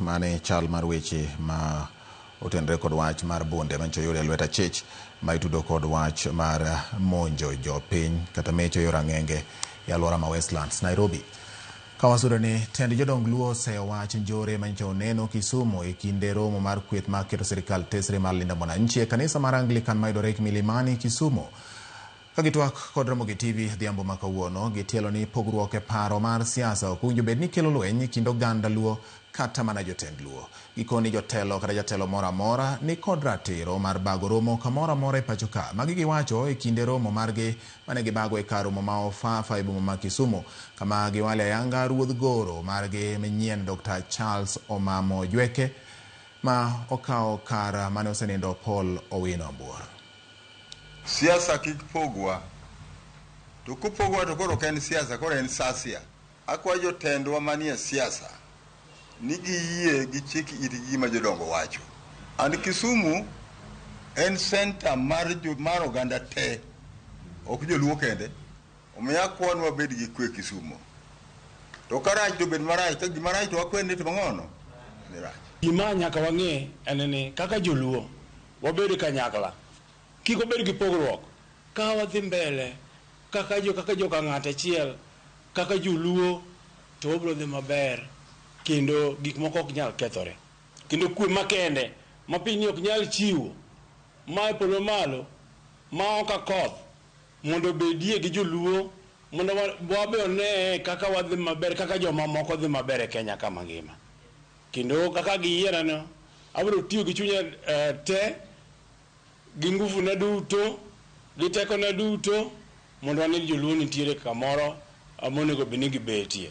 Mano e chal mar weche ma otenore kod wach mar bunde manyicho yore e lwet achich ma itudo kod wach mar monjo jopiny kata mecho yor ang'enge e aluora ma Westlands, Nairobi. Kawasudore ni tend jodong Luo oseyo wach njore manyicho oneno Kisumu e kinde romo mar kweth ma keto sirikal tesre mar Linda Mwananchi e kanisa mar Anglican mayudore Milimani, Kisumu. Ka gitwak kod Ramogi TV odhiambo ma kawuono, gitielo ni pogruok e paro mar siasa ok owinjo bed ni kelo lweny e kind oganda Luo kata mana jotend Luo. Gikoni jotelo kata jatelo moro amora ni kod ratiro mar bago romo kamoro amora e pacho ka. Magi giwacho e kinde romo margi mane gibago e kar romo ma Ofafa e boma ma Kisumu kama giwale ayanga ruodh goro margi manyien Dokta Charles Omamo Ojweke ma okawo kar mane osenindo Paul Owino Ambuor. Siasa kik pogwa. To kopogwa to koro ok en siasa, koro en sasia. Akwayo jotendwa manie siasa ni giyie gichik itgi gima jodongo wacho. And Kisumu en center mar, jo, mar oganda te, ok joluo kende. Omiyo akwayo ni wabed gi kwe Kisumu. To karach to bed marach, ka gima rach to wakwe ni to mang'ono ni rach. Gima nyaka wang'e en ni kaka joluo, Wabed kanyakla. Kik wabed gi pogruok. Ka wadhi mbele kaka jo kaka joka ng'at achiel, kaka joluo to wabiro dhi maber kendo gik moko ok nyal kethore. Kendo kwe makende ma pinyni ok nyal chiwo ma e polo malo ma ok a koth mondo obedie gi joluo mondo wabe oneye kaka wadhi maber kaka joma moko dhi maber e Kenya ka mangima. Kendo kaka giyierano, abiro tiyo gi chunya te, gi nguvuna duto, gi tekona duto mondo ane ni joluo nitiere kamoro monego bed ni gibetie.